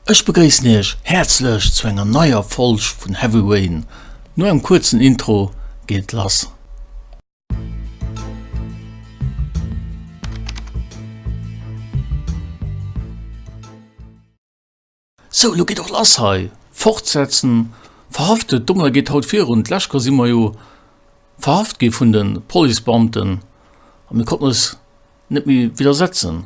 Ech begréissen iech häerzlech zu enger neier Folg vun Heavy Rain. No engem kuerzen Intro geet et lass. Sou, lo geet och lass hei. Fortsetzen, Verhaftet, Dommler geet haut virun, d'lescht Chou si mer jo verhaft gi vun de Policebeamten a mir konnten eis net méi widdersetzen.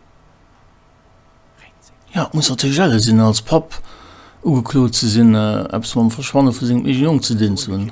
Jo, et muss natierlech ärger sinn, als Papp ugeklot ze sinn, eppes mam Verschwanne vu sengem eegene Jong ze dinn ze hunn.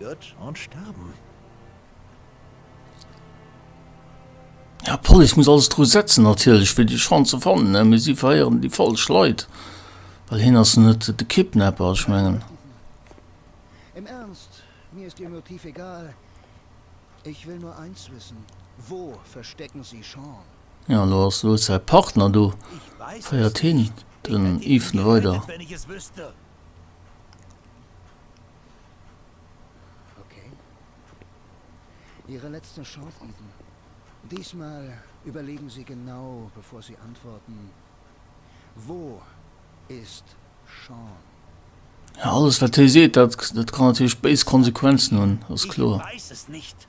Gott und starben. Ja d'Police muss alles dru setzen natierlech fir déi Schwann ze fannen, mee si verhéieren déi falsch Leit, well hien ass net de Kidnapper, ech mengen. Im Ernst, mir ist Ihr Motiv egal, ich will nur eins wissen, wo verstecken Sie Sean? Ja lo ass wou säi Partner, do féiert hien den Ethan weider. Okay. Ihre letzte Chance, Eden. Diesmal überlegen Sie genau, bevor Sie antworten. Wo ist Sean? Ja, alles, wat hie seet, dat kann natierlech béis Konsequenzen hunn, ass kloer. Ich weiß es nicht.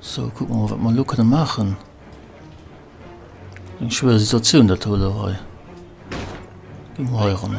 Sou, kucke mer mol, wat mer elo kënne maachen. Eng schwéier Situatioun dat do elo hei. Gi mer hei eran.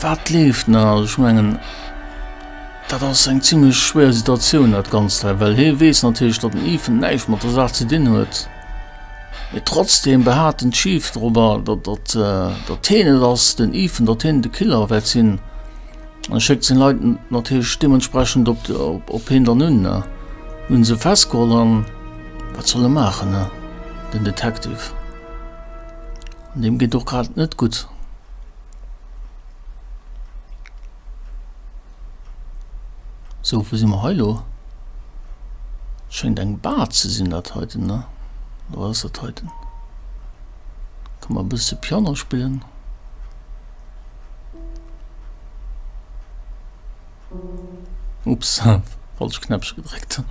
Wat leeft nach? Also ech mengen, dat ass eng zimlech schwéier Situatioun dat Ganzt hei, well hie weess natierlech, datt den Ethan näischt mat der Saach ze dinn huet, mee trotzdeem behaapten d'Chief dorobber, datt datt heen et ass, den Ethan, datt heen de Killer wäert sinn an e schéckt seng Leit natierlech deementsprechend op op heen dann un. Mir hunn se festgeholl an wat soll e maachen? Den Detective, deem geet och grad net gutt. So, wou si mer hei lo? Schéngt eng Bar ze sinn dat heiten, ne? Oder wat ass dat heiten? Kann mer e bësse Piano spillen. Ups, falscht Knäppchen gedréckt.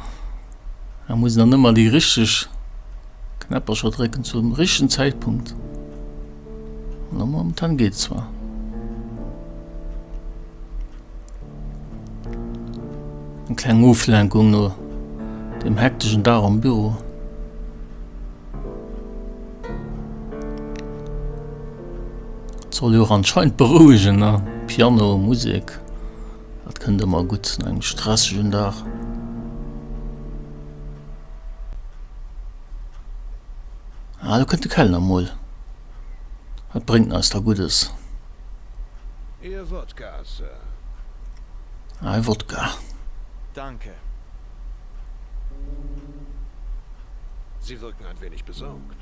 Da muss een dann ëmmer déi richteg Knäppercher drécken zum richtegen Zäitpunkt. No momentan geet zwar. Eng kleng Oflenkung no dem hektischen Dag am Büro. Soll jo anscheinend beruhigen, ne? Piano, Musik. Dat kënnt ëmmer gutt no engem stressegen Dag. Ah, do kënnt de Kellner mol. Wat bréngt en eis da Guddes? Ee Wodka, Sir. Ah, ee Wodka. Danke. Sie wirken ein wenig besorgt.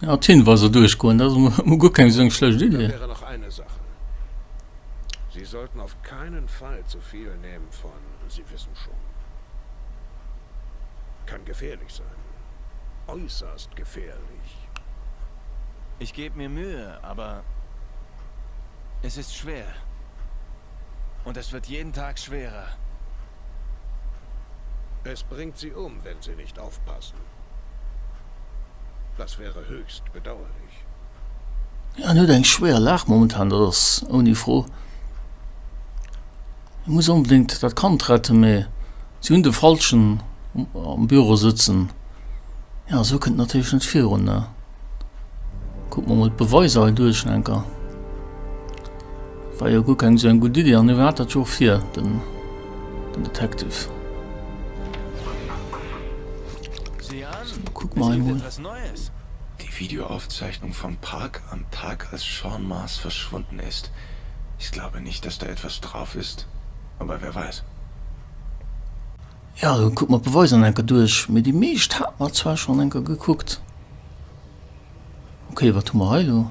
Ja, d'Hinweiser durchgoen, das mo guer keng seng schlecht Dann Idee. wäre noch eine Sache. Sie sollten auf keinen Fall zu viel nehmen von, Sie wissen schon. Kann gefährlich sein. Äußerst gefährlich. Ich geb mir Mühe, aber es ist schwer. Und es wird jeden Tag schwerer. Es bringt sie um, wenn sie nicht aufpassen. Das wäre höchst bedauerlich. En huet eng schwéier Lag momentan, dat ass ouni Fro. E muss onbedéngt dat Kand retten, mee si hunn de Falschen am Büro sëtzen. Jo, esou kënnt et natierlech net virun, ne? Kucke mer emol d'Beweiser hei duerch, enker. War jo guer keng sou eng gutt Iddi, an hie hat dat jo och vir, den Detective. Kuck mer emol. Die Videoaufzeichnung vom Park am Tag als Sean Maas verschwunden ist. Ich glaube nicht dass da etwas drauf ist, aber wer weiß. Jo, kuck mer d'Beweiser nach enker duerch, mee déi meescht hate mer zwar schonn enker gekuckt. Ok, wat hu mer hei elo?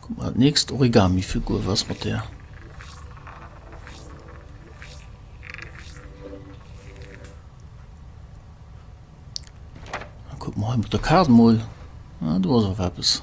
Kuck mal, d'nächst Origamifigur, wat ass mat där? A kuck mal hei mat der Kaart mol, ah, do ass awer eppes.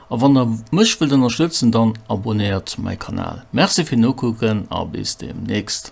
A wann der mech wëllt ënnerstëtzen dann abonnéiert mäi Kanal. Merci fir nokucken a bis demnächst.